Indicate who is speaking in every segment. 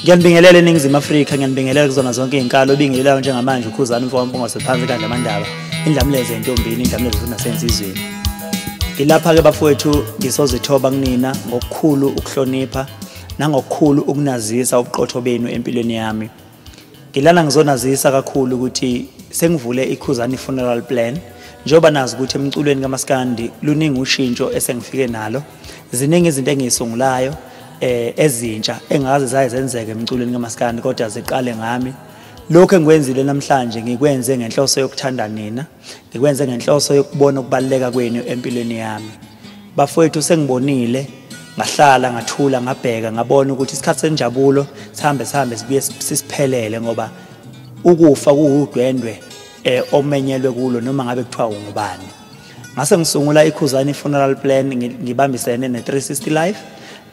Speaker 1: Ngiyanibingelela eNingizimu Afrika, ngiyanibingelela kuzona zonke izinkalo obingelelayo njengamanje uKhuzani mfowami Mpungose phansi kandla amandaba, indlamuleze entombini, indlamuleze futhi nasensizweni. Ngilapha-ke bafowethu ngisozithoba kunina ngokukhulu ukuhlonipha nangokukhulu ukunazisa ubuqotho benu empilweni yami. Ngilana ngizonazisa kakhulu ukuthi sengivule iKhuzani Funeral Plan njengoba nazi ukuthi emculweni kaMaskandi luningi ushintsho esengifike nalo ziningi izinto engiyisungulayo eh ezintsha engaze zaye zenzeke emculweni kamaskandi kodwa ziqale ngami lokho engikwenzile namhlanje ngikwenze ngenhloso yokuthanda nina ngikwenze ngenhloso yokubona ukubaleka kwenu empilweni yami bafowethu sengibonile ngahlala ngathula ngabheka ngabona ukuthi isikhathi senjabulo sihambe sihambe sibuye sisiphelele ngoba ukufa kuwudwendwe eh omenyelwe kulo noma ngabe kuthiwa ungubani ngase ngisungula ikhuzani funeral plan ngibambisene ne-360 life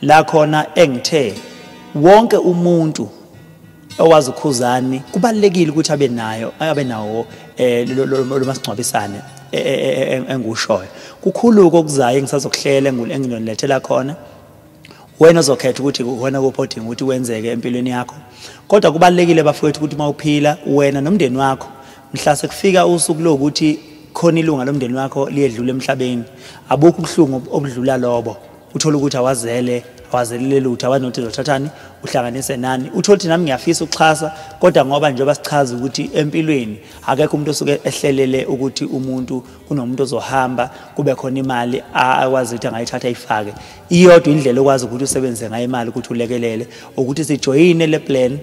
Speaker 1: la khona engithe wonke umuntu owazi ukhuzani kubalekile ukuthi abe nayo abe nawo eh, lo masingcwabisane e, e, e, engushoyo kukhuluko okuzayo engisazokuhlela enginonilethela khona wena ozokhetha ukuthi wena kuphi odinga ukuthi wenzeke empilweni yakho kodwa kubalekile bafowethu ukuthi uma uphila wena nomndeni wakho Mhla sekufika usuku lokuthi khona ilunga lomndeni wakho liyedlula emhlabeni, abukho ubuhlungu obudlula lobo. Uthola ukuthi awazele, awazelile lutho, awanothi zothathani, uhlanganise nani. Uthola ukuthi nami ngiyafisa ukuxhasa, kodwa ngoba njengoba sichaza ukuthi empilweni akekho umuntu osuke ehlelele ukuthi umuntu kunomuntu ozohamba kube khona imali akwazi ukuthi angayithatha ayifake. Iyodwa indlela okwazi ukuthi usebenzise ngayo imali ukuthi ulekelele ukuthi sijoyine le plan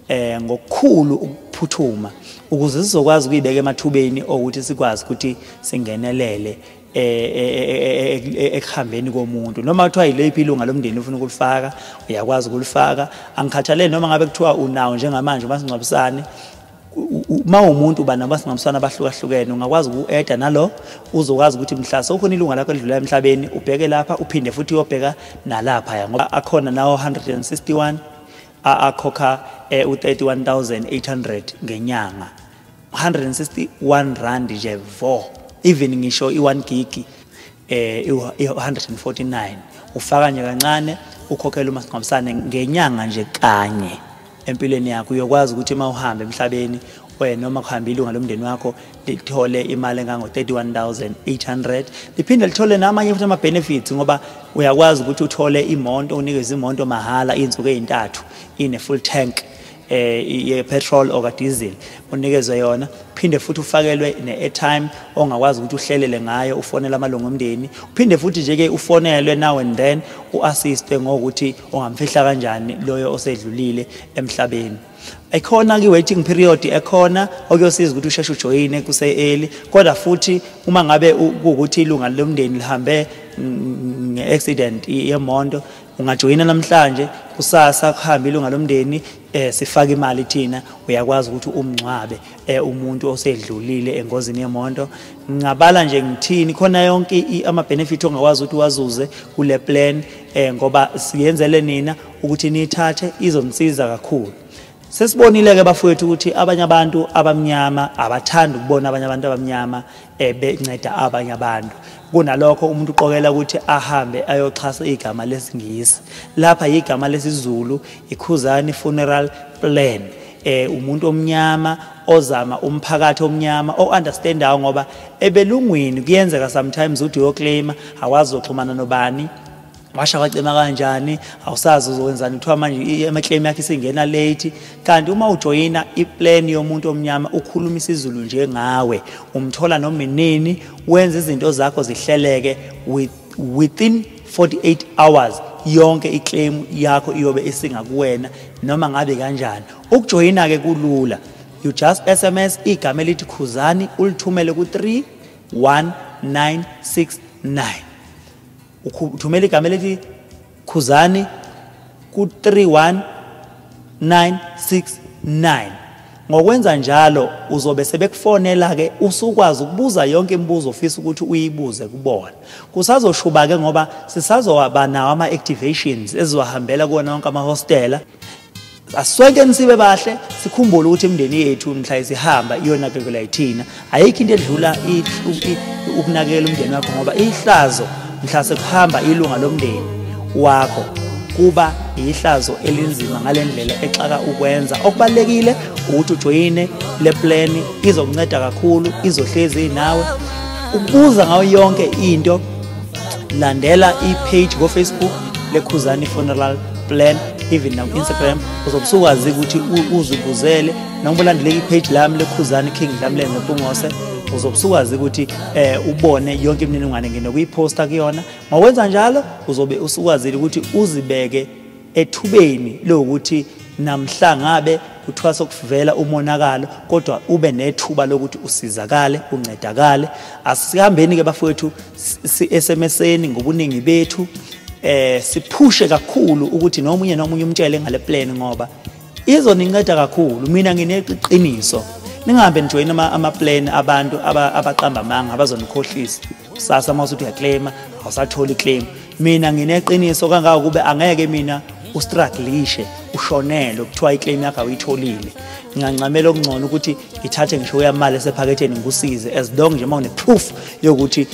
Speaker 1: eh ngokukhulu ukuphuthuma ukuze sizokwazi ukuyibeka emathubeni okuthi sikwazi ukuthi singenelele eh, eh, eh, ekuhambeni komuntu noma kuthiwa yileyiphi ilunga lomndeni ufuna ukulifaka uyakwazi ukulifaka angikhathalele noma ngabe kuthiwa unawo njengamanje umasingcwabisane uma umuntu uba namasingcwabisane abahlukahlukene ungakwazi uku-eda nalo uzokwazi ukuthi mhla sewukhona ilunga lakho elidlula emhlabeni ubheke lapha uphinde futhi uyobheka nalaphaya ngoba akhona nawo 161 akhokha eh, u-31800 ngenyanga 161 rand nje vo even ngisho i-1 gigi eh i-149 ufaka nje kancane ukhokhela umasingcwabisane ngenyanga nje kanye empilweni yakho uyokwazi ukuthi uma uhamba emhlabeni wena noma kuhamba ilunga lomndeni wakho lithole imali engango-31800 liphinde lithole namanye futhi ama-benefits ngoba uyakwazi ukuthi uthole imonto unikeze imonto mahhala iy'nsuku ey'ntathu ine-full tank eh ye-petrol or diesel unikezwe yona phinde futhi ufakelwe ne-airtime ongakwazi ukuthi uhlelele ngayo ufonele amalungu omndeni uphinde futhi nje-ke ufonelwe now and then u-assiste ngokuthi ungamfihla kanjani loyo osedlulile emhlabeni ekhona kwi-waiting period ekhona okuyosiza ukuthi usheshe ujoyine kuse-eli kodwa futhi uma ngabe kuwukuthi ilunga lomndeni lihambe nge-accident yemonto ungajoyina namhlanje kusasa kuhambe ilunga lomndeni eh sifaka imali thina uyakwazi ukuthi umngcwabe eh umuntu osedlulile engozini yemonto ngingabala nje ngithini khona yonke ama benefit ongakwazi ukuthi wazuze kule plan eh ngoba siyenzele nina ukuthi niyithathe izonisiza kakhulu sesibonile ke bafowethu ukuthi abanye abantu abamnyama abathanda ukubona abanye abantu abamnyama eh, benceda abanye abantu kunalokho umuntu uqokela ukuthi ahambe ayoxhasa igama lesingisi lapha yigama lesizulu ikhuzani funeral plan eh umuntu omnyama ozama umphakathi omnyama o understandayo ngoba ebelungwini kuyenzeka sometimes uthi uyoclaima awazi uxhumana nobani washa wacima kanjani awusazi uzokwenzani kuthiwa manje emaclaim yakhe isingena late kanti uma ujoyina iplan yomuntu omnyama ukhuluma isizulu nje ngawe umthola noma inini wenza izinto zakho zihleleke within 48 hours yonke iclaim yakho iyobe isingakuwena noma ngabe kanjani ukujoyina ke kulula you just sms igama elithi khuzani ulithumele ku 31969 uthumela igama elithi khuzani ku-31969 ngokwenza njalo uzobe sebekufonela-ke usukwazi ukubuza yonke imibuzo ofisa ukuthi uyibuze kubona kusazoshuba-ke ngoba sisazoba nawo ama-activations ezizohambela kuwona wonke amahostela asonke nisibe bahle sikhumbule ukuthi imindeni yethu mhla isihamba iyonakekela yithina ayikho into edlula ukunakekela umndeni wakho ngoba ihlazo mhla sekuhamba ilunga lomndeni wakho kuba yihlazo elinzima ngale ndlela exaka ukwenza okubalulekile ukuthi ujoyine le plani izokunceda kakhulu izohlezi nawe ukubuza ngayo yonke into landela i-page kofacebook lekhuzani funeral plan even na Instagram uzobusukwazi ukuthi uzibuzele noma ulandele ipage lami lekhuzani King Dlamlenze Mpungose uzobusukwazi ukuthi eh ubone yonke imininingwane ngene kuyiposta kuyona mawenza njalo uzobe usukwazile ukuthi uzibeke ethubeni lokuthi namhla ngabe kuthiwa sokuvela umonakalo kodwa ube nethuba lokuthi usizakale uncedakale asihambeni ke bafowethu si-SMSeni ngobuningi bethu eh siphushe kakhulu ukuthi nomunye nomunye umtshele ngale plan ngoba izoninceda kakhulu mina ngineqiniso ningahambe nijoyina ama, ama plan abantu abaqamba amanga abazonikhohlisa kusasa uma usuthi uyaclaima awusatholi iclaim mina ngineqiniso kangaka ukube angeke mina ustruglishe ushonele kuthiwa iclaim yakho awuyitholile ngingancamela okungcono ukuthi ngithathe ngisho uyamali esephaketheni ngikusize as long nje uma une-proof yokuthi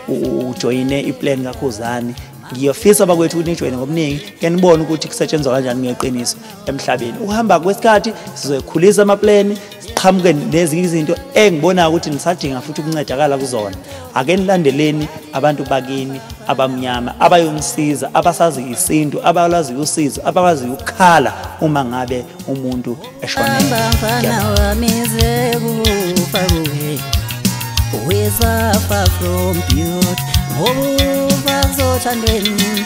Speaker 1: um ujoyine iplan kakhuzane ngiyofisa abakwethu ukuthi nijoyine ngobuningi ke nibone ukuthi kusetshenzwa kanjani ngeqiniso emhlabeni ukuhamba kwesikhathi sizoyikhulisa amapleni siqhamuke nezinye izinto engibonayo ukuthi nisadinga futhi ukuncedakala kuzona ake nilandeleni abantu bakini abamnyama abayonisiza abasazi isintu abalazi usizo abakwazi ukukhala uma ngabe umuntu eshonezafar from beaut ngoba zothandweni